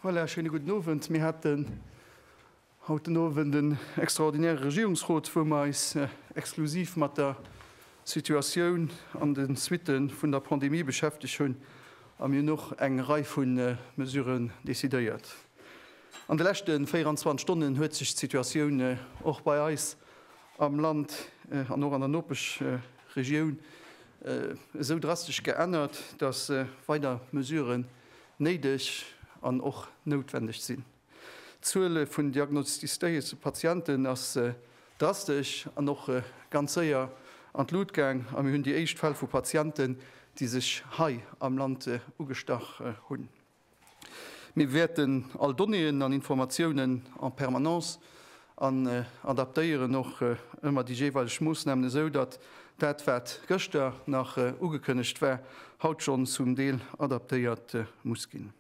Voilà, schöne guten Abend. Wir hatten haut den Abend den extraordinäre Regierungsrot, wo wir uns äh, exklusiv mit der Situation an den Suiten von der Pandemie beschäftigt haben. Und wir haben noch eine Reihe von äh, Mesuren décidéiert. An den letzten 24 Stunden hat sich die Situation äh, auch bei uns am Land an och an der Nopeschregioun esou drastesch geännert, datt weider Mesuren néideg an och noutwendeg sinn. D'Zuele vun diagnostizéierte Patienten ass drastesch an och ganz séier an d'Lut gaang a mir hunn déi éischt Fäll vu Patienten, déi sech hei am Land ugestach hunn. Mir wäerten all Donnéeën an Informatiounen en permanence an adaptéieren och ëmmer déi jeeweileg Moossnamen esou, datt dat, wat gëschter nach ugekënnegt war, haut schonn zum Deel adaptéiert muss ginn.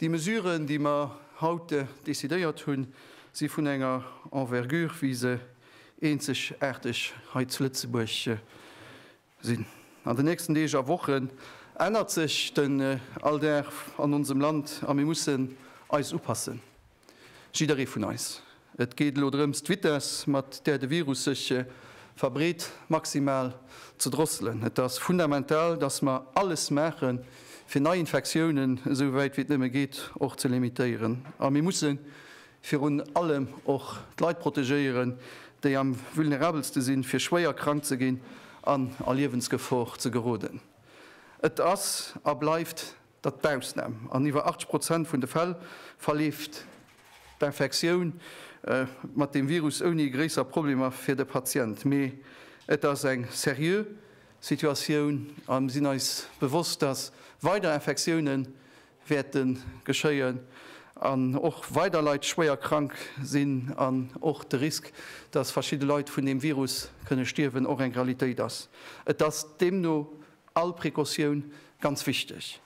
Déi Mesuren, déi mer haut decidéiert hunn, si vun enger Envergure, wéi se eenzegaarteg hei zu Lëtzebuerg sinn. An den nächsten Deeg a Wochen ännert sech den Alldag an onsem Land a mir mussen eis upassen, jidderee vun eis. Et geet elo drëms, d'Vitess, mat där de Virus sech verbreet, maximal ze drosselen. Et ass fundamental, dass mer alles maache fir Neiinfektiounen, esou wäit wéi et nëmme geet, och ze limitéieren. A mir mussen Virun allem och d'Leit protegéieren, déi am vulnerabelste sinn, fir schwéier krank ze ginn an a Liewensgefor ze geroden. Et ass a bleift dat d'Ausnam. An iwwer 80 Prozent vun de Fäll verleeft d'Infektioun mat deem Virus ouni gréisser Problemer fir de Patient. Mee et ass eng seriö Situatioun a mir sinn eis bewosst, dass weider Infektiounen wäerte geschéien an och weider Leit schwéier krank sinn an och de Risk, dass verschidde Leit vun deem Virus kënne stierwen, och eng Realitéit ass. Et ass deemno all Precautioun ganz wichteg.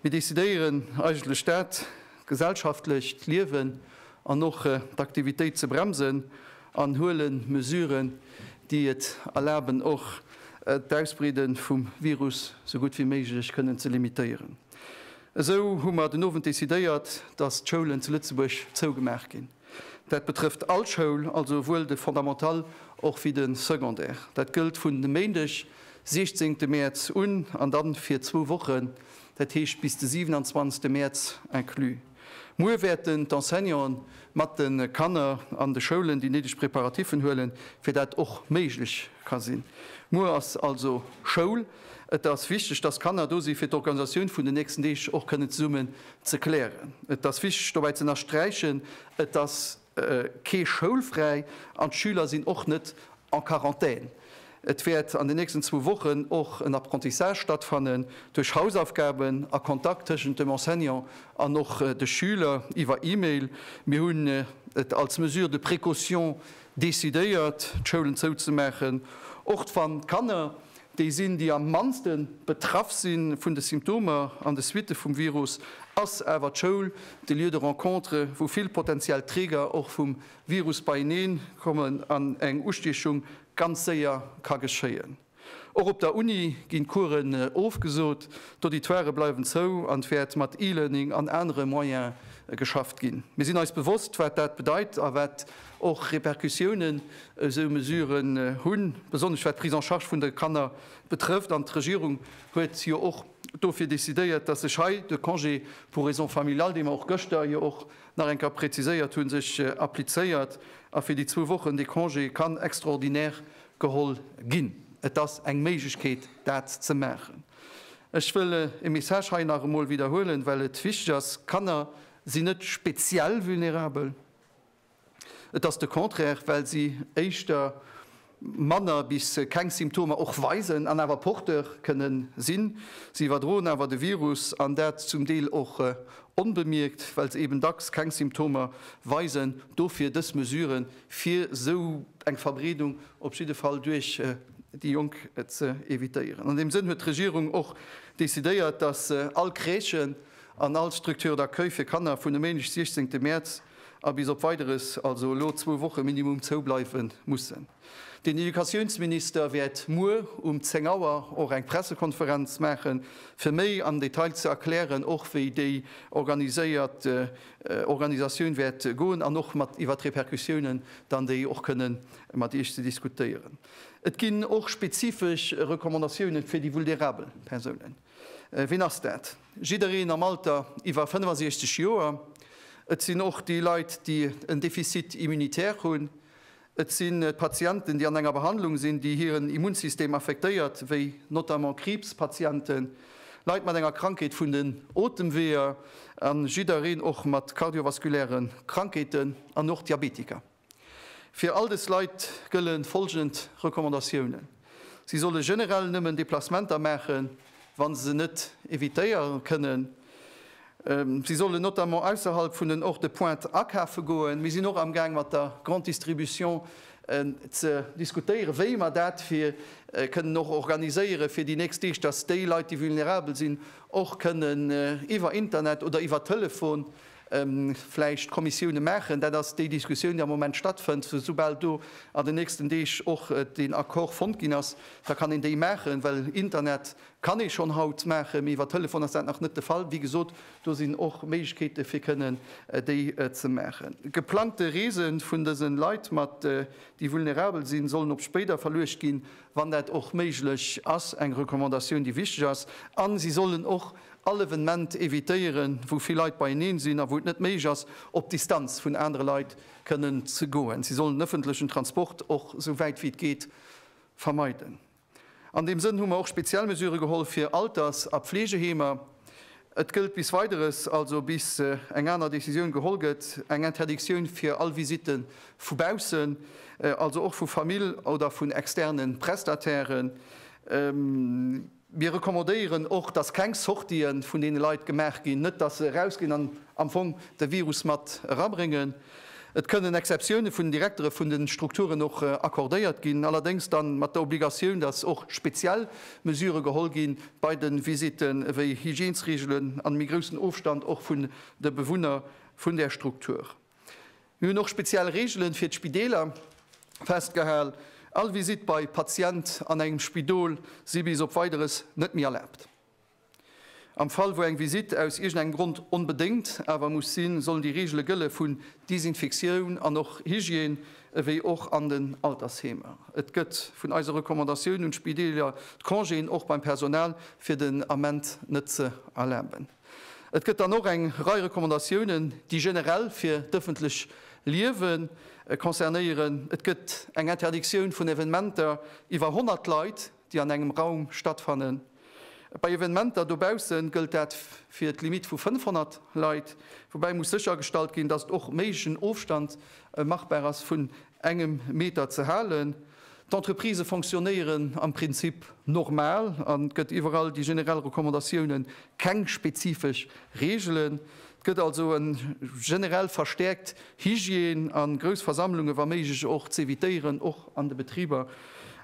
Mir decidéieren eigentlech dat gesellschaftlecht Liewen an och d'Aktivitéit ze bremsen an huele Mesuren, déi et erlaben, och d'Ausbreede vum Virus sou gutt wéi méiglech kënnen ze limitéieren. Esou hu mer den Owend decidéiert, dass d'Schoulen zu Lëtzebuerg zougemaach ginn. Dat betrëfft all Schoul, also esouwuel de Fondamental och wéi de Secondaire. Dat gëllt vun e Méindeg, siechzehnte Mäerz un an da fir zwou Wochen, dat heescht bis de siwenanzwanzegste Mäerz inclus. Muer wäerten d'Enseignanten mat de Kanner an de Schoulen déi néideg Preparatiffen huelen, fir dat och méiglech ka sinn. Muer ass also Schoul. Et ass wichteg, dass Kanner do si fir d'Organisatioun vun den nächsten Deeg och kënnen zesummen ze klären. Et ass wichteg dobäi z'ënnersträichen, et ass. kee schoulfräi an d'Schüler sinn och net en Quarantaine. Et wäert an den nächsten zwou Wochen och en Apprentissage stattfannen, duerch Hausaufgaben a Kontakt tëschent dem Enseignant an och de Schüler iwwer E-Mail. Mir hunn et als Mesure de précaution decidéiert, d'Schoulen zouzemaachen, och wann d'Kanner déi sinn, déi am mannste betraff si vun de Symptomer an de Suitte vum Virus, ass awer d'Schoul, de Lieu de rencontre, wou vill potentiell Träger och vum Virus beieneen kommen an eng Ustiechung ganz séier ka geschéien. Och op der Uni ginn d'Coursen ofgesot, d'Auditoirë bleiwen zou an et wäert mat E-Learning an anere Moyene geschafft ginn. Mir sinn eis bewosst, wat dat bedeit a wat Och Repercussiounen esou Mesuren hunn, besonnesch wat d'Prise en charge vun de Kanner betrëfft. An d'Regierung huet jo och dofir decidéiert, dass sech hei de Congé pour raisons familiales, dee mer och gëschter jo och nach eng Kéier preziséiert hunn, sech applizéiert a fir déi zwou Wochen dee Congé kann extraordinaire geholl ginn. Et ass eng Méiglechkeet, dat ze maachen. Ech wëll e Message hei nach emol widderhuelen, well et wichteg ass, Kanner sinn net speziell vulnerabel. Et ass de Contraire, well si éischter manner bis keng Symptomer och weisen an awer Porteur kënne sinn. Si iwwerdroen awer de Virus, an dat zum Deel och onbemierkt, well se eben dacks keng Symptomer weisen. Dofir dës Mesure fir esou eng Verbreedung op jidde Fall duerch déi Jonk ze evitéieren. An deem Sënn huet d'Regierung och decidéiert, datt all Crèche an all Structure d'accueil fir Kanner vun e Méindeg 16 Mäerz, a bis op Weideres also elo zwou Woche minimum zou bleiwe mussen. Den Educatiounsminister wäert muer um 10 Auer och eng Pressekonferenz maache fir méi am Detail ze erklären, och wéi déi organiséiert Organisatioun wäert goen an och mat iwwer d'Repercussiounen dann déi och kënne mat Iech ze diskutéieren. Et ginn och spezifesch Recommandatiounen fir déi vulnerabel Persounen. Wien ass dat? Jiddereen am Alter iwwer 65 Joer. Et sinn och déi Leit, déi en Defizit immunitaire hunn. Et si Patienten, déi an enger Behandlung sinn, déi hiren Immunsystem affektéiert, wéi notamment Kriibspatienten, Leit mat enger Krankheet vun den Otemweeër a jiddereen och mat kardiovaskuläre Krankheeten an och Diabetiker. Fir all dës Leit gëlle folgend Recommandatiounen, Si solle generell nëmmen Deplacementer maachen, wa se se net evitéiere kënnen. Si sollen notamment ausserhalb vun den Orts de pointe akafe goen. Mir sinn och amgaang mat der Grande Distribution ze diskutéieren, wéi mer dat fir kënnen och organiséiere fir déi nächst Deeg, dass déi Leit, déi vulnerabel sinn, och kënnen iwwer Internet oder iwwer Telefon vläicht Kommissioune maachen, dat ass déi Diskussioun, déi am Moment stattfënnt, soubal do an den nächsten Deeg och den Accord fonnt ginn ass, da kann een déi maachen, well Internet kann ee schonn haut maachen, mee iwwer Telefon ass dat nach net de Fall. Wéi gesot, do sinn och Méiglechkeete fir kënnen déi ze maachen. Geplangte Reese vun dëse Leit, déi vulnerabel sinn, sollen op spéider verluecht ginn, wann dat och méiglech ass, eng Recommandatioun, déi wichteg ass, a si sollen och all Evenement evitéieren, wou vill Leit beieneen sinn a wou et net méiglech ass, op Distanz vun anere Leit kënnen ze goen. Si sollen den ëffentlechen Transport och sou wäit wéi et geet vermeiden. An deem Sënn hu mer och speziell Mesurë geholl fir Alters a Pfleegeheemer, Et gëllt bis Weideres, also bis eng aner Decisioun geholl gëtt, eng Interdictioun fir all Visitte vu baussen, also och vu Famill oder vun externe Prestatairen. Mir recommandéieren och, dass keng Sortien vun deene Leit gemaach ginn, net dass se erausginn an am Fong de Virus mat erabréngen. Et kënnen Exceptioune vun den Direktere vun de Strukturen och accordéiert ginn, allerdéngs da mat der Obligatioun, datt och speziell Mesurë geholl gi bei de Visitten, ewéi Hygiènesreegelen an méi groussen Ofstand och vun de Bewunner vun där Struktur. Mir hunn och speziell Reegele fir d'Spideeler festgehal. All Visitt bei Patient an engem Spidol si bis op Weideres net méi erlaabt. Am Fall wou eng Visitt aus iergendengem Grond onbedéngt awer muss sinn, sollen déi Reegele gëlle vun Desinfektioun an och Hygiène, ewéi och an den Altersheemer. Et gëtt vun eise Recommandatioun un d'Spideeler, d'Congéen och beim Personal fir den Ament net ze erlaben. Et gëtt dann och eng Rei Recommandatiounen, déi generell fir d'ëffentlech Liewe concernéieren. Et gëtt eng Interdictioun vun Evenementer iwwer 100 Leit. déi an engem Raum stattfannen. Bei Evenementer dobausse gëllt dat fir d'Limitt vu 500 Leit, woubäi muss séchergestallt ginn, datt och méiglegen Ofstand machbar ass vun engem Meter ze halen. D'Entreprisë fonctionnéieren am Prinzip normal an et gëtt iwwerall déi generell Recommandatioune, keng spezifesch Reegelen. Et gëtt also en generell verstäerkt Hygiène a grouss Versammlungen, wa méiglech och, z'evitéieren, och an de Betriber.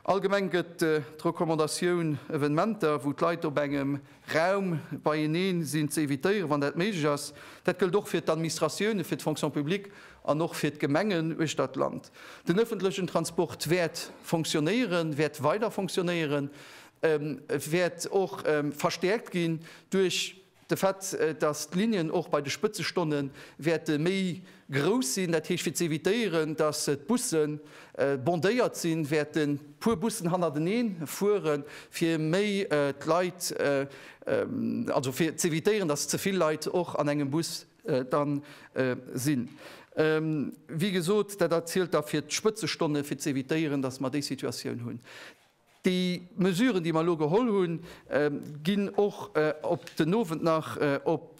Allgemeng gëtt d'Recommandatioun, Evenementer, wou d'Leit op engem Raum beieneen sinn, z'evitéieren, wann dat méiglech ass. Dat gëllt och fir d'Administratiounen, fir d'Fonction publique an och fir d'Gemengen uechter d'Land. Den ëffentlechen Transport wäert fonctionnéieren, wäert weider fonctionnéieren, wäert och verstäerkt ginn duerch. De Fait, datt d'Linnen och bei de Spëtzestonne wäerte méi grouss sinn, dat heescht fir ze evitéieren, datt d'Busse bondéiert sinn, wäerte puer Bussen hannerteneen fuere fir méi d'Leit, also fir ze evitéieren, datt ze vill Leit och an engem Bus da sinn. Wéi gesot, dat zielt da fir d'Spëtzestonne fir ze evitéieren, datt mer déi Situatioun hunn. Déi Mesuren, déi mer elo geholl hunn, ginn och op den Owend nach op,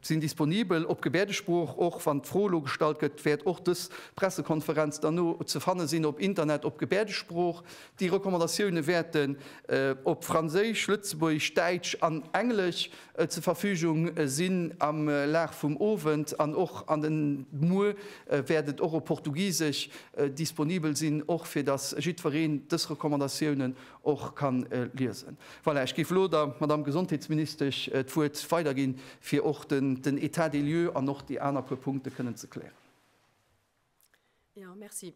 sinn disponibel op Gebäerdesprooch, och wann d'Fro elo gestallt gëtt, wäert och dës Pressekonferenz dann no ze fanne sinn op Internet op Gebäerdesprooch. Déi Recommandatioune wäerten op Franséisch, Lëtzebuergesch, Däitsch an Englesch zur Verfügung sinn am Laf vum Owend an och an den Muer wäert et och op Portugisesch disponibel sinn, och fir dass jiddwereen dës Recommandatiounen och ka liesen. Voilà, ech géif elo der Madamm Gesondheetsministesch d'Wuert weiderginn, fir och den État des lieux an och déi aner puer Punkte kënnen ze klären. Ja, merci.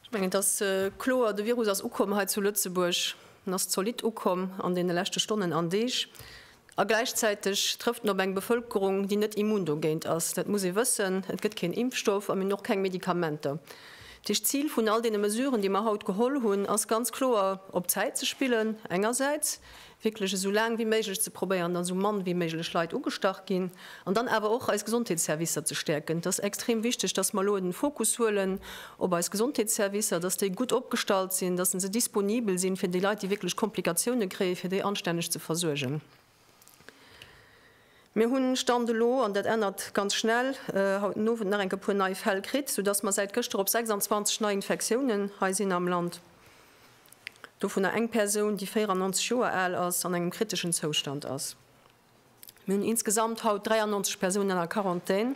Ech mengen, et ass kloer, de Virus ass ukomm hei zu Lëtzebuerg, en ass zolidd ukomm an deene leschte Stonnen an Deeg. A gläichzäiteg trëfft en op eng Bevëlkerung, déi net immun dogéint ass. Dat muss ee wëssen. Et gëtt keen Impfstoff a mir hunn och keng Medikamenter. Dat heescht, d'Zil vun all deene Mesuren, déi mer haut geholl hunn, ass ganz kloer, op d'Zäit ze spillen engersäits, wierklech esou laang wéi méiglech ze probéieren, datt esou mann wéi méiglech Leit ugestach ginn, an dann awer och eis Gesondheetsservicer ze stäerken. Et ass extrem wichteg, datt mer elo den Fokus huelen op eis Gesondheetsservicer, datt déi gutt opgestallt sinn, datt se disponibel sinn, fir déi Leit, déi wierklech Komplikatiounen kréien, fir déi anstänneg ze versuergen. Mir hunn, Stand elo, an dat ännert ganz schnell, haut den Owend nach eng e puer nei Fäll kritt, soudatt mer säit gëschter op 26 Neiinfektiounen hei sinn am Land. dovunner eng Persoun, déi 94 Joer al ass an engem kriteschen Zoustand ass. Mir hunn insgesamt haut 93 Persounen a Quarantän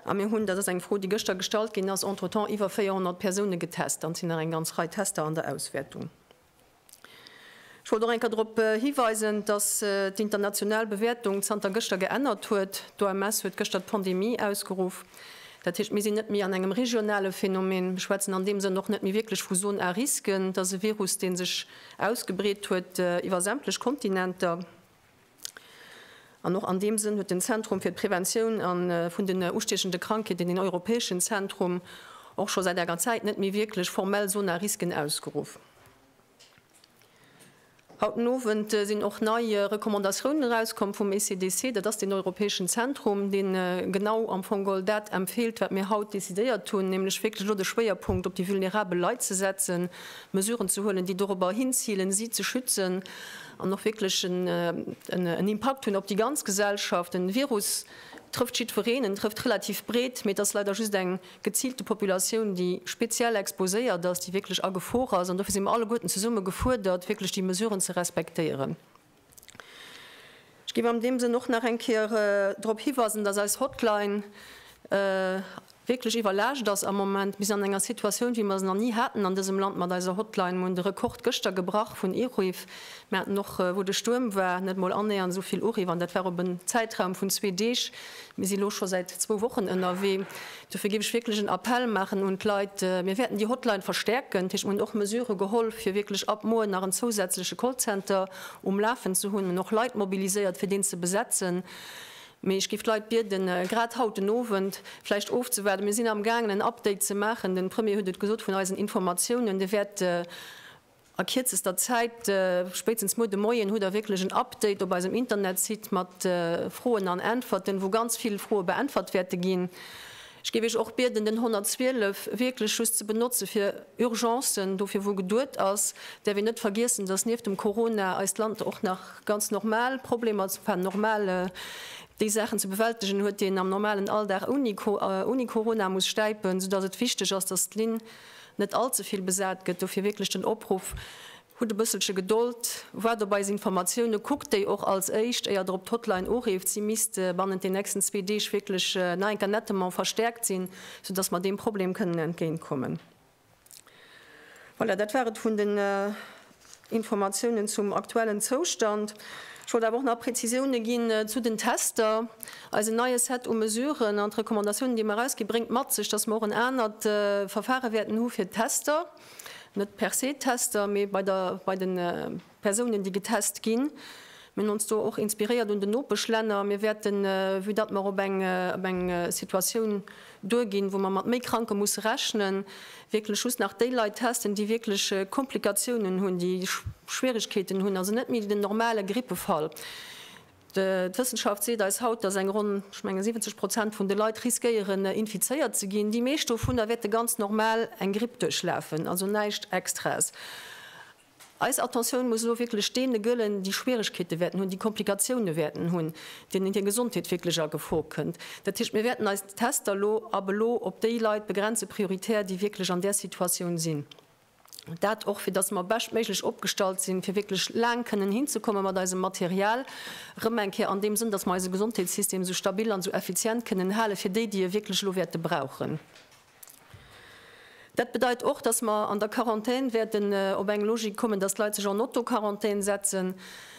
a mir hunn, dat ass eng Fro, déi gëschter gestallt ginn ass, entretemps iwwer 400 Persoune getest an et sinn nach eng ganz Rei Tester an der Auswäertung. Ech wollt och eng Kéier drop hiweisen, dass d'international Bewäertung zanter gëschter geännert huet. D'OMS huet gëschter d'Pandemie ausgeruff. Dat heescht, mir sinn net méi an engem regionale Phänomen. Mir schwätzen an deem Sënn och net méi wierklech vu Zone à risque. Et ass e Virus, dee sech ausgebreet huet iwwer sämtlech Kontinenter. An och an deem Sënn huet den Zentrum fir d'Preventioun vun den ustiechende Krankheeten, den europäeschen Zentrum, och scho säit enger Zäit net méi wierklech formell Zone à risque ausgeruff. Haut den Owend sinn och nei Recommandatiounen erauskomm vum ECDC, dat ass deen europäeschen Zentrum, dee genau am Fong geholl dat empfeelt, wat mir haut decidéiert hunn, nämlech wierklech elo de Schwéierpunkt op déi vulnerabel Leit ze setzen, Mesuren ze huelen, déi dorobber hinzilen, si ze schützen an och wierklech en Impakt hunn op déi ganz Gesellschaft. De Virus trëfft jiddwereen, en trëfft relativ breet, mee et ass leider just eng. geziilt déi Populatioun, déi speziell exposéiert ass, déi wierklech a Gefor ass, an dofir si mer alleguerten zesumme gefuerdert, wierklech déi Mesuren ze respektéieren. Ech géif an deem Sënn och nach eng Kéier drop hiweisen, dass eis Hotline wierklech iwwerlaascht ass am Moment. Mir sinn an enger Situatioun, wéi mer se nach ni haten an dësem Land mat eiser Hotline. Mir hunn de Rekord gëschter gebrach vun Iruff, Mir haten och, wou de Stuerm war, net emol annéiernd esou vill Uriff, an dat war op en Zäitraum vun zwee Deeg. Mir si elo scho säit zwou Wochen ënnerwee. Dofir géif ech wierklech en Appell maachen un d'Leit, mir wäerten déi Hotline verstäerken. Dat heescht, mir hunn och Mesure geholl, fir wierklech ab muer nach en zousätzleche Callcenter um Lafen ze hunn an och Leit mobiliséiert, fir deen ze besetzen. Mee ech géif d'Leit bieden, grad haut den Owend vläicht ofzewaarden. Mir sinn amgaangen, en Update ze maachen. De Premier huet et gesot vun eisen Informatiounen. Dee wäert A kierzester Zäit, spéitstens muer de Moien, hutt der wierklech en Update op eisem Internetsite mat Froen an Äntwerten, wou ganz vill Froe beäntwert wäerte ginn. Ech géif Iech och bieden, den 112 wierklech just ze benotze fir Urgencen, dofir wou geduet ass. Däerf een net vergiessen, dass nieft dem Corona eist Land och nach ganz normal Problemer, enfin normal, déi Saachen ze bewältegen huet, déi een am normalen Alldag ouni Corona muss stäipen, soudass et wichteg ass, dass d'Linn net all ze vill besat gëtt. Dofir wierklech den Opruff, Hutt e bësselche Gedold, waart op eis Informatioune, kuckt déi och als éischt, éier der op d'Hotline ureeft. Si misst bannent den nächsten zwee Deeg wierklech nach eng Kéier nettement verstäerkt sinn, soudass mer deem Problem kënnen entgéintkommen. Voilà, dat war et vun den. Informatiounen zum aktuellen Zoustand. Ech wollt awer och nach Präzisioune ginn zu den Tester. Eisen neie Set u Mesuren an d'Recommandatiounen, déi mer erausginn, bréngt mat sech, dass mer och en anert Verfare wäerten hu fir d'Tester, net per se d'Tester, mee bei de Persounen, déi getest ginn. Mir hunn ons do och inspiréiert un den Nopeschlänner. Mir wäerten, vue datt mer op eng op eng Situatioun duerginn, wou mer mat méi Kranke musse rechnen, wierklech just nach déi Leit testen, déi wierklech Komplikatiounen hunn, déi Schwierigkeeten hunn, also net méi den normale Grippefall. D'Wëssenschaft seet eis haut, datt eng ronn, ech mengen, 70 Prozent vun de Leit riskéieren, infizéiert ze ginn. Déi meescht dovunner wäerte ganz normal eng Gripp duerchlafen, also näischt Extraes. Eis Attentioun muss elo wierklech deene gëllen, déi Schwierigkeete wäerten hunn, déi Komplikatioune wäerten hunn, deenen hir Gesondheet wierklech a Gefor kënnt. Dat heescht, mir wäerten eis Tester elo ab elo op déi Leit begrenze prioritär, déi wierklech an där Situatioun sinn. Dat och, fir datt mer beschtméiglech opgestallt sinn, fir wierklech laang kënnen hinzekomme mat eisem Material. Erëm eng Kéier, an deem Sënn, datt mer eise Gesondheetssystem esou stabil an esou effizient kënnen halen, fir déi, déi e wierklech elo wäerte brauchen. Dat bedeit och, dass mer an der Quarantän wäerten op eng Logik kommen, dass d'Leit sech en Autoquarantän setzen.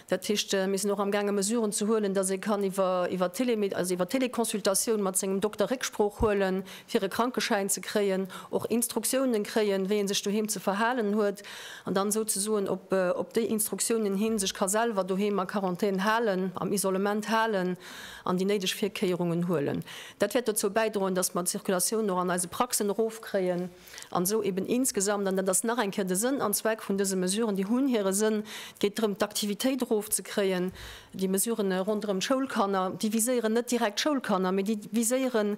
Dat heescht, mir sinn och amgaange Mesuren ze huelen, dass ee kann iwwer Télémed-, also iwwer Téléconsultatioun mat sengem Dokter Récksprooch huelen, fir e Krankeschäin ze kréien, och Instruktiounen kréien, wéi ee sech doheem ze verhalen huet, an dann souzesoen op déi Instruktiounen hin sech ka selwer doheem a Quarantän halen, am Isolement halen. an déi néideg Virkéierungen huelen. Dat wäert dozou bäidroen, datt mer d'Circulatioun och an eise Praxen erofkréien an esou eben insgesamt, an dat ass nach eng Kéier de Sënn an Zweck vun dëse Mesuren, déi hunn hire Sënn, et geet drëm d'Aktivitéit erofzekréien, déi Mesurë ronderëm d'Schoulkanner, déi viséieren net direkt d'Schoulkanner, mee déi viséieren,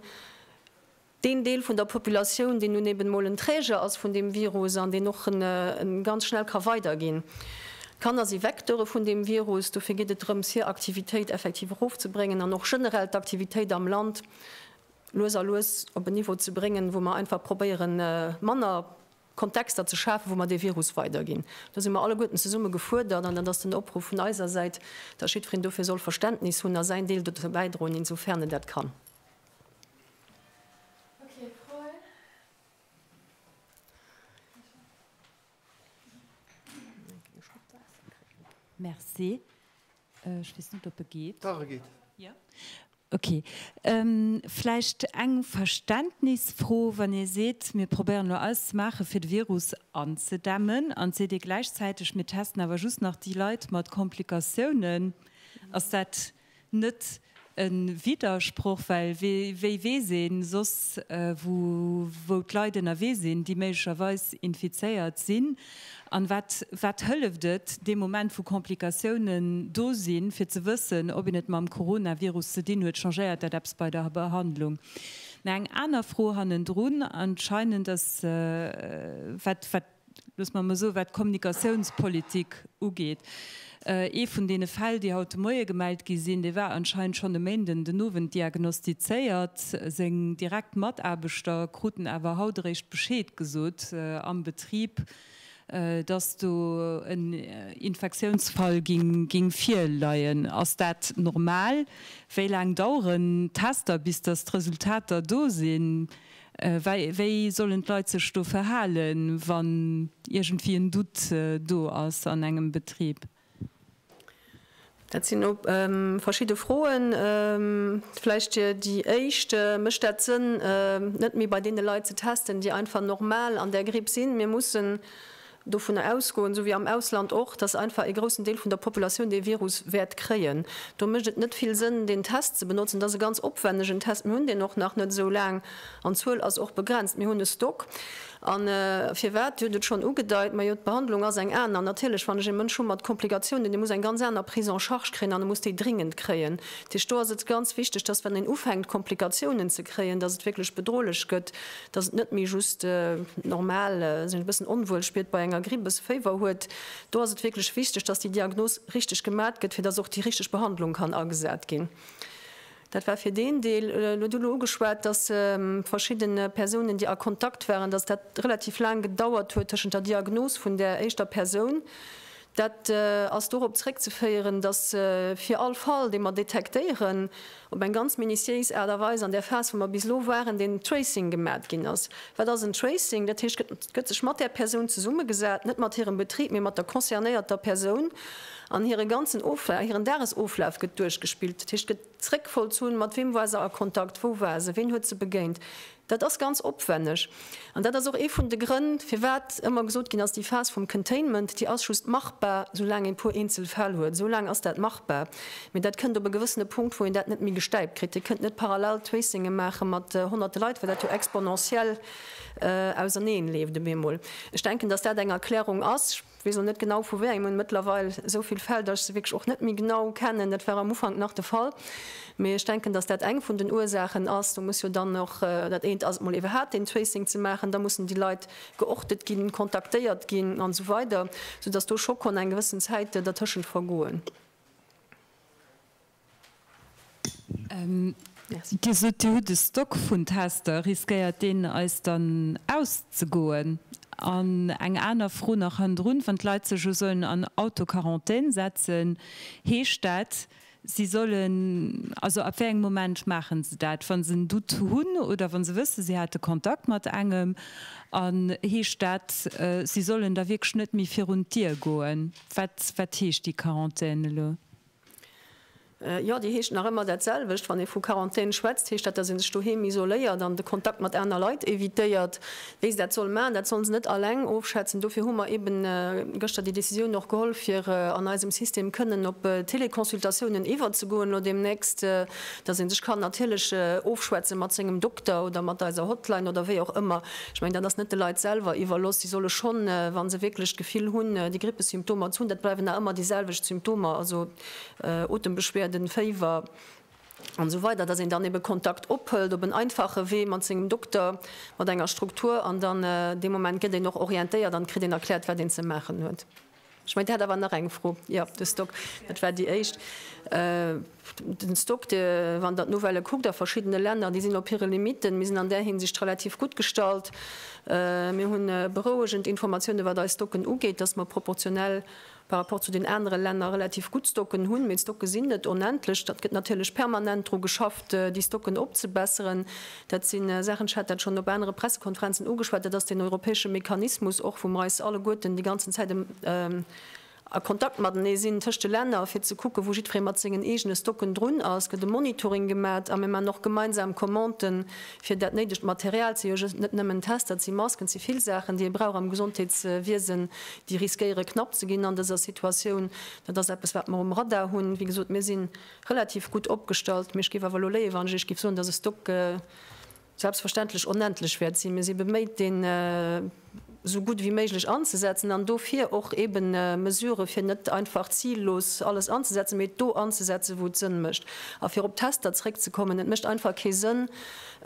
deen Deel vun der Populatioun, deen nun eben emol en Träger ass vun deem Virus an deen och e ganz schnell ka weiderginn. D'Kanner si Vecteure vun deem Virus, dofir geet et drëms, hir Aktivitéit effektiv erofzebréngen an och generell d'Aktivitéit am Land lues a lues op en Niveau ze bréngen, wou mer einfach probéiere manner Kontexter ze schafen, wou mer dee Virus weiderginn. Do si mer alleguerten zesumme gefuerdert an dat ass den Opruff vun eiser Säit, dass jiddwereen dofir soll Verständnis hunn a säin Deel dozou bäidroen, insofern en dat kann. Vläicht eng Verständnisfro, Wann Dir seet, mir probéieren elo alles ze maachen, fir de Virus anzedämmen, an et seet Dir gläichzäiteg, mir testen awer just nach déi Leit mat Komplikatiounen, ass dat net e Widdersproch, well wéi weess een soss, wou d'Leit ënnerwee sinn, déi méiglecherweis infizéiert sinn? An wat hëlleft et dee Moment, wou Komplikatiounen do sinn, fir ze wëssen, ob een et mam Coronavirus ze dinn huet? Changéiert dat eppes bei der Behandlung? Mä eng aner Fro hannendrun, anscheinend, ass, wat, wat. loosse mer emol soen, wat d'Kommunikatiounspolitik ugeet, ee vun deene Fäll, déi haut de Moie gemellt gi sinn, dee war anscheinend schonn e Méinden den Owend diagnostizéiert. Seng direkt Mataarbechter kruten awer haut eréischt Bescheed gesot am Betrib, dass do en Infektiounsfall géing virleien. Ass dat normal? Wéi laang daueren d'Tester, bis dass d'Resultater do sinn? Wéi sollen d'Leit sech do verhalen, wann iergendwéi en Doute do ass an engem Betrib? Dat sinn elo verschidde Froen. Vläicht Dir déi éischt, Mécht dat Sënn, net méi bei deene Leit ze testen, déi einfach normal an där Gripp sinn? Mir mussen dovunner ausgoen, esou wéi am Ausland och, dass einfach ee groussen Deel vun der Populatioun dee Virus wäert kréien. Do mécht et net vill Sënn, deen Test ze benotzen. Et ass e ganz opwännegen Test. Mir hunn deen och nach net esou laang an d'Zuel ass och begrenzt. Mir hunn e Stock. A firwat? Dir hutt et schonn ugedeit, majo, d'Behandlung ass eng aner. Natierlech, wann ech ee Mënsch hu mat Komplikatiounen, dee muss eng ganz aner Prise en charge kréien an e muss déi dringend kréien. Dat heescht, do ass et ganz wichteg, dass, wann een ufänkt Komplikatiounen ze kréien, dass et wierklech bedrohlech gëtt dass et net méi just normal sech e bëssen onwuel spiert bei enger Gripp, e bësse Féiwer huet, do ass et wierklech wichteg, dass déi Diagnos richteg gemat gëtt, fir dass och déi richteg Behandlung kann agesat ginn. Dat war fir deen Deel. Elo huet Dir ugeschwat, dass verschidde Persounen, déi a Kontakt waren, dass dat relativ laang gedauert huet tëschent der Diagnos vun där éischter Persoun, Dat ass dorop zréckzeféieren, datt fir all Fall, dee mer detektéieren, op eng ganz minutiéis Aart a Weis an där Phas, wou mer bis elo waren, den Tracing gemat ginn ass. Wat ass en Tracing? Dat heescht, et gëtt sech mat där Persoun zesummegesat, net mat hirem Betrib, mee mat der concernéierter Persoun, an hire ganzen Oflaf, hiren Dagesoflaf gëtt duerchgespillt. Dat heescht, et gëtt. Zréckfolz hunn, mat weem war se a Kontakt, wou war se, ween huet se begéint, dat ass ganz opwenneg. An dat ass och ee vun de Grënn, firwat ëmmer gesot ginn ass, déi Phas vum Containment, déi ass just machbar, soulaang ee puer eenzel Fäll huet. Esoulaang ass dat machbar, mee dat kënnt op e gewëssene Punkt, wou een dat net méi gestäipt kritt. Dir kënnt net parallel Tracingë maache mat honnerte Leit, well dat jo exponentiell auserneen leeft op eemol. Ech denken, dass dat eng Erklärung ass. Ech weess och net genau vu wéi engem, mëttlerweil esou vill Fäll, datt ech se wierklech och net méi genau kennen. Dat war am Ufank nach de Fall, mee ech denken, datt dat eng vun den Ursaachen ass. Do muss jo dann och, dat eent ass et mol ebe hat, deen Tracing ze maachen, da mussen déi Leit geortet ginn, kontaktéiert ginn an esou weider, soudatt do scho konn eng gewëssen Zäit dertëschent vergoen. Dir sot, Dir hutt e Stock vun Tester. Riskéiert deen eis dann auszegoen? An eng aner Fro nach hannendrun, Wann d'Leit sech elo sollen an Autoquarantän setzen, heescht dat, si sollen, also ab wéi engem Moment maachen se dat, wa se en Doute hunn oder wa se wëssen, si hate Kontakt mat engem? An heescht dat, si sollen da wierklech net méi virun d'Dier goen? Wat heescht déi Quarantän elo? Jo, déi heescht nach ëmmer dat selwecht. Wann ee vu Quarantän schwätzt, heescht dat, datt ee sech doheem isoléiert an de Kontakt mat aner Leit evitéiert. Wéi se dat solle maachen, dat solle se net alleng ofschätzen. Dofir hu mer eeben gëschter déi Decisioun och geholl, fir an eisem System kënnen op Teleconsultatiounen iwwerzegoen elo deemnächst, datt ee sech kann natierlech ofschwätze mat sengem Dokter oder mat eiser Hotline oder wéi och ëmmer. Ech mengen, dat ass net de Leit selwer iwwerlooss. Si solle schonn, wa se wierklech d'Gefill hunn, déi Grippesymptomer ze hunn, dat bleiwen nach ëmmer déi selwecht Symptomer, also Otembeschwerden, Féiwer an esou weider, dass een dann ebe Kontakt ophëlt op en einfache Wee mat sengem Dokter, mat enger Struktur an dann dee Moment gëtt een och orientéiert an kritt een erkläert, wat een ze maachen huet. Ech mengen, Dir hat awer nach eng Fro. Jo, de Stock, dat war déi éischt. Den Stock, wann Der d'Nouvellë kuckt a verschiddene Länner, déi sinn op hire Limitten. Mir sinn an där Hinsicht relativ gutt gestallt. Mir hunn berouegend Informatiounen, wat eis Stocken ugeet, dass mer proportionell par rapport zu den anere Länner relativ gutt Stocken hunn. Mee d'Stocke sinn net onendlech. Et gëtt natierlech permanent dru geschafft, déi Stocken opzebesseren. Dat si Saachen, ech hat dat schonn op anere Pressekonferenzen ugeschwat, dat ass deen europäesche Mechanismus och, wou mer eis alleguerten déi ganzen Zäit a Kontakt matenee sinn tëscht de Länner, fir ze kucken, wou jiddweree mat sengen eegene Stocken drun ass. Et gëtt e Monitoring gemat a mir maachen och gemeinsam Commanden, fir dat néidegt Material ze jo net nëmmen Tester, et si Masken, et si vill Saachen, déi ee brauch am Gesondheetswiesen, déi riskéiere knapp ze ginn an dëser Situatioun. Dat ass eppes, wat mer um Radar hunn. Wéi gesot, mir sinn Relativ gutt opgestallt, mee ech géif awer elo léien, wann ech Iech géif soen, dass e Stock selbstverständlech onendlech wäert sinn. Mir si beméit, deen esou gutt wéi méiglech anzesetzen an dofir och eebe Mesurë fir net einfach zillos alles anzesetzen, mee et do anzesetzen, wou et Sënn mécht. A fir op d'Tester zréckzekommen, Et mécht einfach kee Sënn,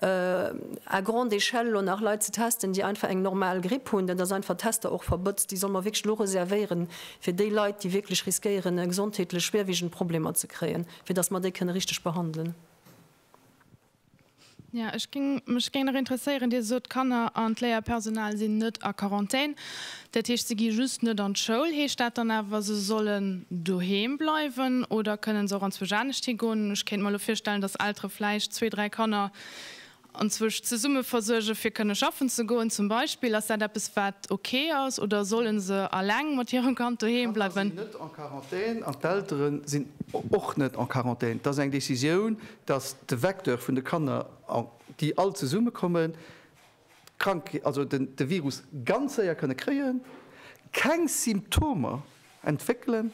à grande échelle elo nach Leit ze testen, déi einfach eng normal Gripp hunn. Dat ass einfach, Tester och verbotzt. Déi solle mer wierklech elo reservéieren, fir déi Leit, déi wierklech riskéieren, gesondheetlech schwierwiegend Problemer ze kréien, fir dass mer déi kënne richteg behandelen. Ja, ech géing mech géing nach interesséieren, Dir sot, d'Kanner an d'Léierpersonal sinn net a Quarantän, dat heescht, se gi just net an d'Schoul. Heescht dat dann awer, se sollen doheem bleiwen oder kënnen se och anzwousch anescht higoen? Ech kéint mer elo virstellen, dass Eltere vläicht zwee, dräi Kanner Anzwësch zesumme versuerge fir kënne schaffen ze goen zum Beispill, ass dat eppes wat ok ass oder sollen se alleng mat hirem Kand doheem bleiwen? D'Kanner sinn net en Quarantän an d'Eltere sinn och net en Quarantän. Et ass eng Decisioun, datt de Vecteur vun de Kanner, déi all zesumme kommen, d'Krankheet, also de Virus ganz séier kënne kréien, keng Symptomer entwéckelen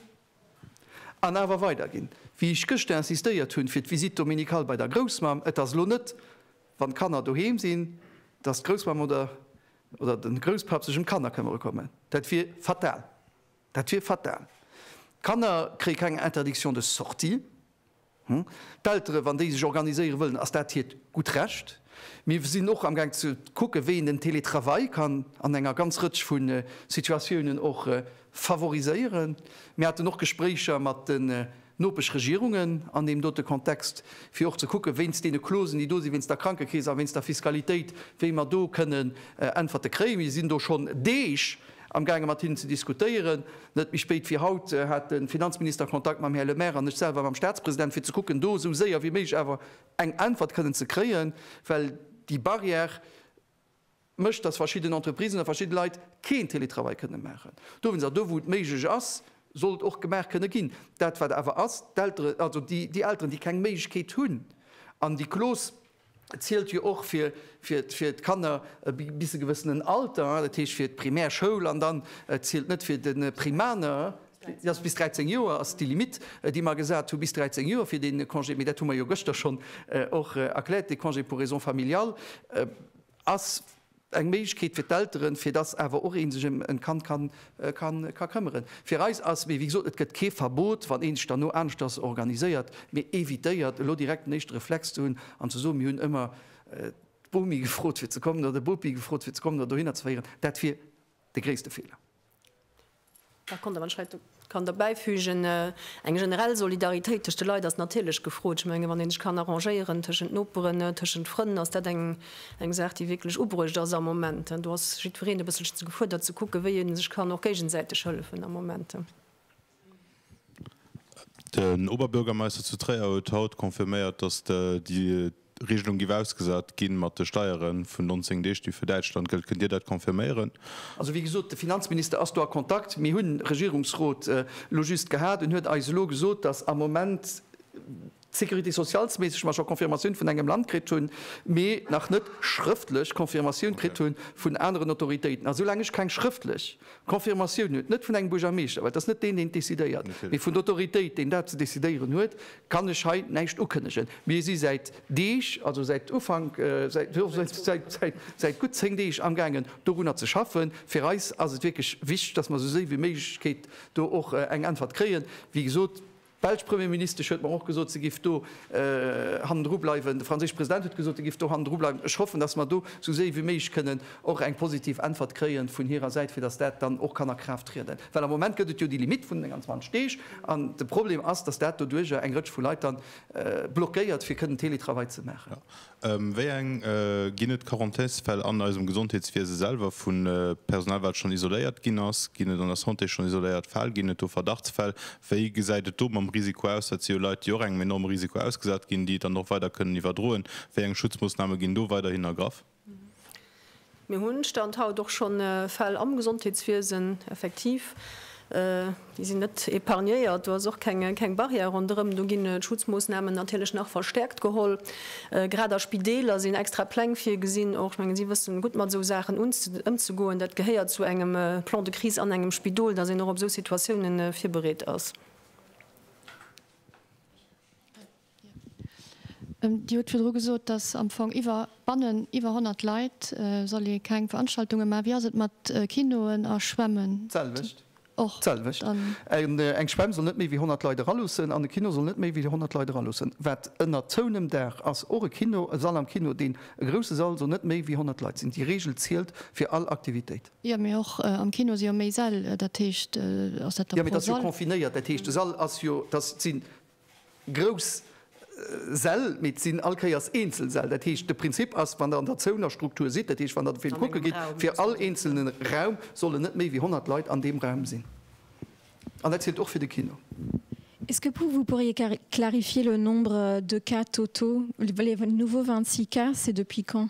An awer weider ginn, wéi ech gëschter insistéiert hunn, fir d'Visite dominicale bei der Groussmamm. Et ass elo net, wann d'Kanner doheem sinn, dass d'Groussmamm oder oder de Grousspapp sech ëm d'Kanner këmmere kommen. Dat wier fatal. Dat wier fatal. D'Kanner kréie keng Interdiction de sortie. D'Elteren, wann déi sech organiséiere wëllen, ass dat hiert gutt Recht. Mir sinn och amgaang ze kucken, wéi een den Télétravail kann an enger ganz Rëtsch vu Situatiounen och favoriséieren. Mir haten och Gespréicher mat den Nopeschregierungen an deem dote Kontext, fir och ze kucken, wéinst deene Clausen, déi do sinn, wéinst der Krankekeess a wéinst der Fiskalitéit, wéi mer do kënnen Äntwerte kréien. Mir sinn do schonn Deeg Amgaange mat hinnen ze diskutéieren. Net méi spéit wéi haut hat de Finanzminister Kontakt mam Här Lemaire an ech selwer mam Staatspresident, fir ze kucken, do esou séier wéi méiglech awer eng Äntwert kënnen ze kréien, well déi Barrière mécht, dass verschidden Entreprisen a verschidde Leit keen Télétravail kënnen maachen dowéinst. A do, wou et méiglech ass, soll et och gemaach kënne ginn. Dat, wat awer ass, d'Eltere, also déi Elteren, déi keng Méiglechkeet hunn an déi Clause, Et zielt jo och fir d'Kanner bis e gewëssenen Alter, dat heescht fir d'Primärschoul, an dann zielt net fir de Primaner. Bis 13 Joer ass déi Limitt, déi mer gesat hunn, bis 13 Joer fir dee Congé. Mee dat hu mer jo gëschter schonn och erkläert, de Congé pour raisons familiales ass, Eng Méiglechkeet fir d'Elteren, fir dass awer och ee sech ëm e Kand ka këmmeren. Fir eis ass, mee wéi gesot, et gëtt kee Verbot, wann ee sech derno aneschters organiséiert, mee evitéiert elo direkt den éischte Reflex ze hunn an ze soen, mir hunn ëmmer d'Bomi gefrot fir ze kommen oder de Bopi gefrot fir ze kommen oder dohinner ze féieren, dat wier de gréisste Feeler. Da konnt der, wann ech hei kann der bäifügen, eng generell Solidaritéit tëscht de Leit ass natierlech gefrot. Ech menge wann ee sech kann arrangéieren tëschent Noperen, tëschent Frënn, ass dat eng Saach déi wierklech ubruecht ass am Moment. Do ass jiddwereen e bësselchen gefuerdert ze kucke wéi ee sech kann och géigesäiteg hëllefen am Moment. Den Oberbürgermeister zu Tréier huet haut confirméiert, datt déi Regelung giff ausgesat ginn, mat de Steiere vun 19 Deeg, déi fir Däitschland gëllt. Kënnt Dir dat confirméieren? Also wéi gesot, de Finanzminister ass do a Kontakt. Mir hunn Regierungsrot elo just gehat, en huet eis elo gesot, datt am Moment, Sécurité socialesméisseg mer scho Confirmatioun vun engem Land kritt hunn, mee nach net schrëftlech Confirmatioun kritt hu vun aneren Autoritéiten. A soulaang ech keng schrëftlech Confirmatioun huet, net vun engem Buergermeeschter, well et ass net deen, deen et decidéiert, mee vun der Autoritéit, deen dat ze decidéieren huet, kann ech hei näischt ukënnegen. Mir si säit Deeg, also säit Ufank, säit gutt zéng Deeg amgaangen, dorunner ze schaffen. Fir eis ass et wierklech wichteg, dass mer esou séi wéi Méiglechkeet do och eng Äntwert kréien. Wéi gesot. D'belsch Premierministesch huet mer och gesot, se géif do hannendru bleiwen. De franséische President huet gesot, e géif do hannendru bleiwen. Ech hoffen, datt mer do esou séi wéi méiglech kënnen och eng positiv Äntwert kréie vun hirer Säit, fir datt dat dann och kann a Kraaft trieden. Well am Moment gëtt et jo déi Limitt vun den 29 Deeg an de Problem ass, datt dat doduerjer eng Rëtsch vu Leit dann blockéiert, fir kënnen Teletravail ze maachen. Wéi eng ginn et d'Quarantaisfäll an eisem Gesondheetswiese selwer? Vu Personal, wat schonn isoléiert ginn ass? Ginn et an der Santé schonn isoléiert Fäll? Ginn et do Verdachtsfäll? Wéi gesäit et do mam Risiko aus? Dat si jo Leit, déi och engem enorme Risiko ausgesat ginn, déi et dann och weider kënnen iwwerdroen. Wéi eng Schutzmoossname ginn do weiderhin ergraff? Mir hunn, Stand haut, och schonn Fäll am Gesondheetswiesen, effektiv. Déi sinn net épargnéiert. Do ass och keng Barrière ronderëm. Do ginn d'Schutzmoossnamen natierlech nach verstärkt geholl. Grad a Spideeler sinn extra Pläng virgesinn och. Ech mengen, si wëssen gutt mat esou Saachen ëmzegoen. Dat gehéiert zu engem Plan de crise an engem Spidol, dass een och op esou Situatiounen virbereet ass. Dir hutt virdru gesot, datt am Fong iwwer, bannen iwwer 100 Leit soll ee keng Veranstaltungen maachen. Wéi ass et mat Kinoen a Schwämmen? D'selwecht. Och? D'selwecht. Eng Schwämm soll net méi wéi 100 Leit eraluussen an e Kino soll net méi wéi 100 Leit eraluussen. Wat ënner zouenem Daach ass, och e Kino, e Sall am Kino, deen e grousse Sall, soll net méi wéi 100 Leit sinn. Déi Reegel zielt fir all Aktivitéit. Jo, mee och am Kino si jo méi Säll. Dat heescht, ass dat da pro Sall? Jo, mee dat ass jo confinéiert. Dat heescht, de Sall ass jo, dat sinn grouss Säll, mee et sinn all Kéiers eenzel Säll. Dat heescht, de Prinzip ass, wann Der an der zouener Struktur sidd, dat heescht, wann Der de Film kucke gitt, fir all eenzelne Raum sollen net méi wéi 100 Leit an deem Raum sinn. An dat zielt och fir de Kino. Est-ce que vous pourriez clarifier le nombre de cas totaux? Les nouveaux 26 cas, c'est depuis quand?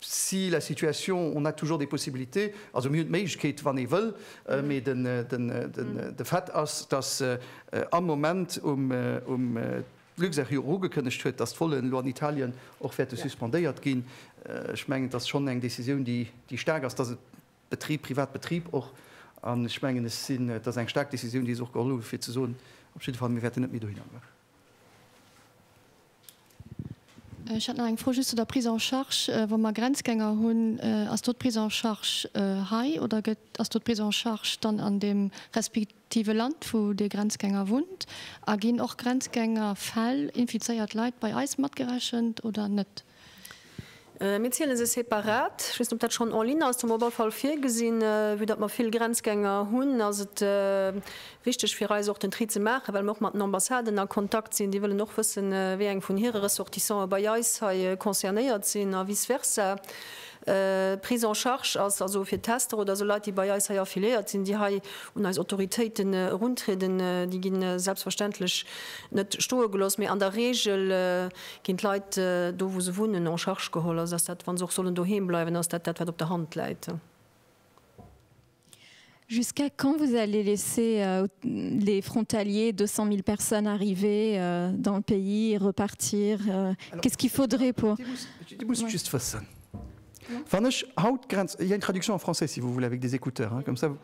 Si la situation, on a toujours des possibilités, also mir hunn d'Méiglechkeet, wann ee wëll. Mee de Fait ass, datt am Moment um Luxair jo och ugekënnegt huet, datt d'Volen elo an Italien och wäerte suspendéiert ginn. Ech mengen, et ass schonn eng Decisioun, déi staark ass, datt e Betrib, Privatbetrib och, an ech mengen, et ass eng staark Decisioun, déi se och geholl hu fir ze soen, op jidde Fall, mir wäerten net méi dohinner goen. Ech hätt nach eng Fro just zu der Prise en charge. Wa mer Grenzgänger hunn, ass do d'Prise en charge hei oder gëtt, ass do d'Prise en charge dann an deem respektive Land, wou dee Grenzgänger wunnt? A ginn och Grenzgängerfäll, infizéiert Leit, bei eis matgerechent oder net? Mir ziele se separat. Ech weess net, ob dat schonn en ligne ass. Do hu mer op alle Fall virgesinn, vue datt mer vill Grenzgänger hunn, ass et wichteg fir eis och den Tri ze maachen, well mer och mat den Ambassaden a Kontakt sinn. Déi wëllen och wëssen, wéi eng vun hire Ressortissanten bei eis hei concernéiert sinn a vice versa. D'Prise en charge ass also fir Tester oder esou Leit, déi bei eis hei affiliéiert sinn, déi hei un eis Autoritéiten eruntrieden, déi gi selbstverständlech net stoe gelooss, mee an der Reegel Ginn d'Leit do, wou se wunnen, en charge geholl? Also ass dat, wa se och sollen doheem bleiwen, ass dat dat, wat op der Hand läit? Jusqu'à quand vous allez laisser les frontaliers, 200.000 personnes, arriver dans le pays et repartir? Qu'est-ce qu'il faudrait pour? Dir musst just wëssen, wann ech haut d'Grenz, il y a une traduction en français si vous voulez avec des écouteurs, comme ça vous.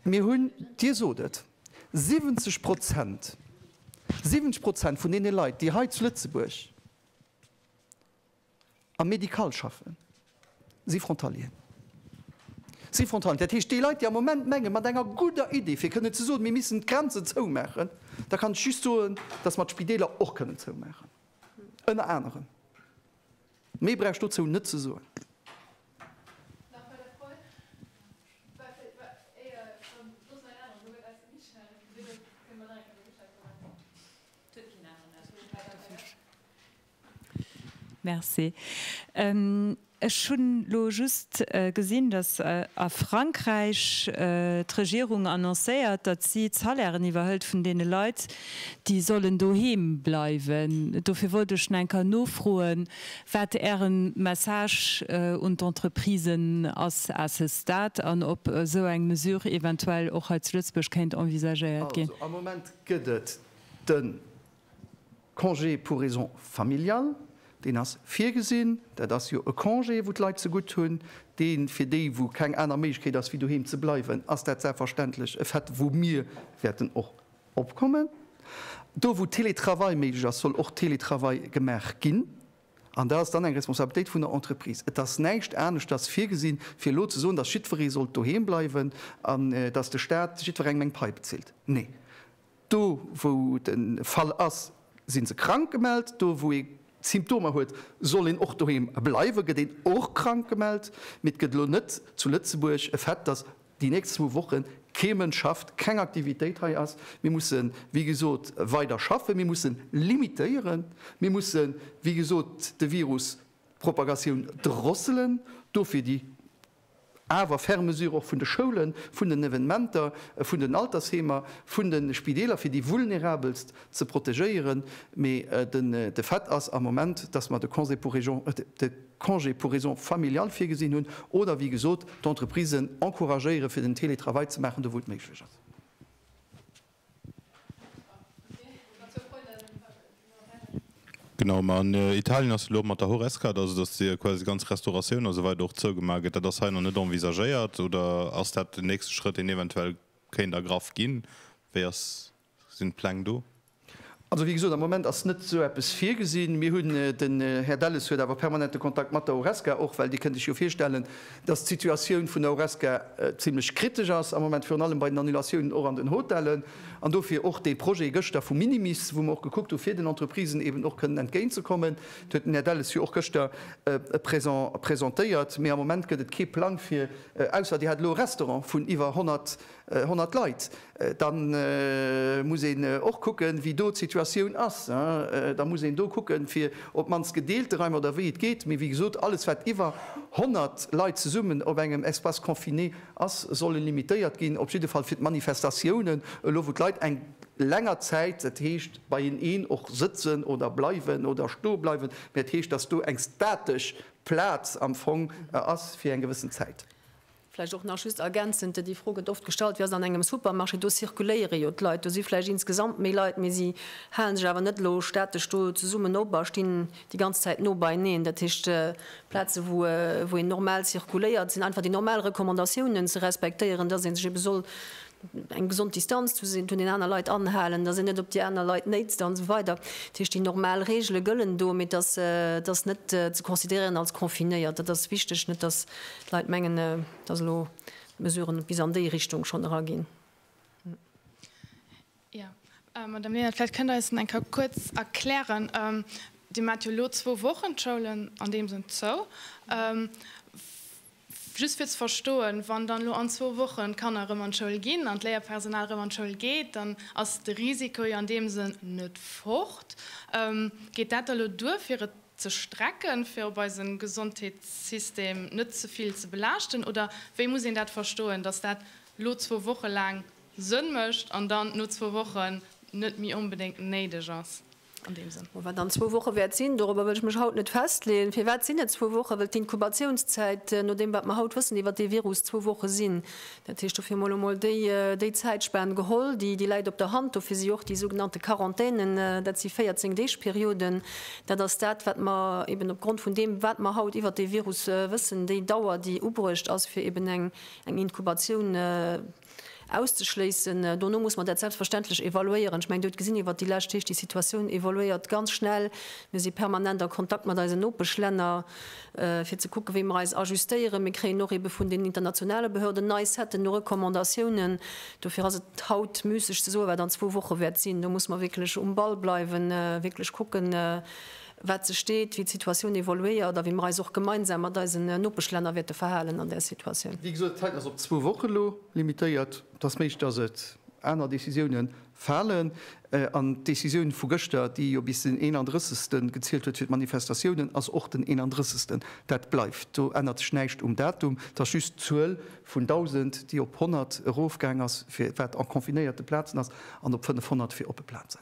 Mir hunn, Dir sot et, 70 Prozent, 70 Prozent vun deene Leit, déi hei zu Lëtzebuerg am Médical schaffen, si Frontalier, si Frontalier. Dat heescht, déi Leit, déi am Moment mengen, mat enger gudder Iddi, fir kënnen ze soen, mir missen d'Grenzen zoumaachen, da kann ech just soen, dass mer d'Spideeler och kënnen zoumaachen, ënner anerem. Méi brauch ech dozou net ze soen. Ech hunn elo just gesinn, datt a Frankräich d'Regierung annoncéiert, datt si d'Salairen iwwerhëlt vun deene Leit, déi sollen doheem bleiwen. Dofir wollt ech schon enker nofroen, Wat Ären Message un d'Entreprisen ass à ce stade an ob esou eng Mesure eventuell och hei zu Lëtzebuerg kéint envisagéiert ginn? Also am Moment gëtt et de Congé pour raison familiale, deen ass virgesinn. Dat ass jo e Congé, wou d'Leit zegutt hunn, dee fir déi, wou keng aner Méiglechkeet ass wéi doheem ze bleiwen, ass dat selbstverständlech e Fait, wou mir wäerten och Opkommen. Do wou Télétravail méiglech ass, soll och Télétravail gemaach ginn. An dat ass dann eng Responsabilitéit vun der Entreprise. Et ass näischt aneschters virgesinn, fir elo ze soen, dass jiddweree sollt doheem bleiwen an dass de Staat jiddwerengem eng Pai bezilt. Nee, do wou et e Fall ass, si se krank gemellt. Do wou ee Symptomer huet, soll een och doheem bleiwen, gëtt een och krank gemellt. Mee et gëtt elo net zu Lëtzebuerg e Fait, dass Déi nächst zwou Woche kee Mënsch schafft, keng Aktivitéit hei ass. Mir mussen, wéi gesot, weider schaffen. Mir mussen limitéieren. Mir mussen, wéi gesot, de Virus, d'Propagatioun drosselen. Dofir déi awer ferm Mesure och vun de Schoulen, vun den Evenementer, vun den Altersheemer, vun de Spideeler, fir déi Vulnerabelst ze protegéieren. Mee de Fait ass am Moment, dass mer de Congé pour régence, Congé pour raisons familiales virgesinn hunn oder, wéi gesot, d'Entreprisen encouragéieren, fir den Teletravail ze maachen, do wou et méiglech ass. Genau, mä an Italien ass et elo och mat der Horesca, also datt de quasi ganz Restauratioun a sou weider och zougemaach gëtt. Dat ass hei nach net envisagéiert oder ass dat den nächste Schrëtt, deen eventuell kéint ergraff ginn? Wéi ass. Sinn d'Pläng do? Also, wéi gesot, am Moment ass net esou eppes virgesinn. Mir hunn, den Här Delles huet awer permanente Kontakt mat der Horesca och, well Dir kënnt Iech jo virstellen, dass d'Situatioun vun der Horesca zimlech kritesch ass am Moment, virun allem bei den Annulatiounen och an den Hotellen. An dofir och dee Projet gëschter vu minimis, wou mer och gekuckt hu fir den Entreprisen eeben och kënnen entgéintzekommen. Dat huet den Här Delles jo och gëschter presentéiert. Mee am Moment gëtt et kee Plang fir, ausser Dir hat elo e Restaurant vun iwwer 100 100 Leit, da muss een och kucken, wéi do d'Situatioun ass. Da muss een do kucken, fir op d'mannst gedeelte Reimer oder wéi et geet. Mee wéi gesot, alles, wat iwwer 100 Leit zesummen op engem Espace confiné ass, soll limitéiert ginn, op jidde Fall fir d'Manifestatiounen elo, wou d'Leit eng länger Zäit, dat heescht beieneen och sëtzen oder bleiwen oder stoe bleiwen, mä dat heescht, dass do eng statesch Plaz am Fong ass fir eng gewëssen Zäit. Vläicht och nach just ergänzend, déi Fro gëtt oft gestallt, Wéi ass et an engem Supermarché? Do zirkuléiere jo d'Leit, do si vläicht insgesamt méi Leit, mee si hale sech awer net elo statesch do zesummen op a stinn déi ganz Zäit no beieneen. Dat heescht, Plaze wou een normal zirkuléiert, sinn einfach déi normal Recommandatiounen ze respektéieren, dass ee sech ebe soll eng gesond Distanz zuenaner Leit anhalen, datt een net op déi aner Leit néitzt an esou weider. Dat heescht, déi normal Reegele gëllen do, mee datt ass net ze considéréieren als confinéiert. Dat ass wichteg, net datt d'Leit mengen, datt elo d'Mesurë bis an déi Richtung schonn eraginn. Jo, Madame Lenert, vläicht kënnt Der eis dat eng Kéier kuerz erklären. Dir maacht jo elo zwou Wochen d'Schoulen an deem Sënn zou. Just fir ze verstoen, Wann dann elo an zwou Wochen d'Kanner erëm an d'Schoul ginn an d'Léierpersonal erëm an d'Schoul geet, dann ass de Risiko jo an deem Sënn net fort. Geet dat da elo duer, fir et ze strecken, fir op eise Gesondheetssystem net ze vill ze belaaschten? Oder wéi muss een dat verstoen, dass dat elo zwou Woche laang Sënn mécht an dann no zwou Wochen net méi onbedéngt néideg ass? an deem Sënn. Wat dann zwou Woche wäert sinn, dorobber wëll ech mech haut net festleeën. Firwat sinn et zwou Wochen? Well d'Inkubatiouns-zäit, no deem wat mer haut wëssen iwwert dee Virus, zwou Woche sinn. Dat heescht, dofir mol emol déi Zäitspan geholl, déi läit op der Hand. Dofir si och déi sougenannte Quarantänen, dat si 14 Deeg Perioden, dat ass dat wat mer eben op Grond vun deem wat mer haut iwwert dee Virus wëssen, déi Dauer déi ubruecht ass fir eben eng Inkubatioun, auszeschléissen. Dono muss mer dat selbstverständlech evaluéieren. Ech mengen, Dir hutt gesinn iwwert déi lescht Deeg, déi Situatioun evoluéiert ganz schnell. Mir si permanent a Kontakt mat eisen Nopeschlänner, fir ze kucken, wéi mer eis ajustéieren. Mir kréien och ebe vun den internationale Behörden nei Seten u Recommandatiounen. Dofir ass et haut müsseg ze soen, wat an zwou Woche wäert sinn. Do muss mer wierklech um Ball bleiwen, wierklech kucken, wat se steet, wéi d'Situatioun evoluéiert a wéi mer eis och gemeinsam mat eisen Nopeschlänner wäerte verhalen an där Situatioun. Wéi gesot, d'Zäit ass op zwou Woche lo limitéiert. Et ass méiglech, dass et aner Décisiounen falen. An d'Décisioun vu gëschter, déi jo bis den 31. gezielt huet fir d'Manifestatiounen, ass och den 31. Dat bleift. Do ännert sech näischt um Datum. Et ass just d'Zuel vun 1.000, déi op 100 erofgaang ass, fir wat an confinéierte Plazen ass, an op 500 fir oppe Plazen.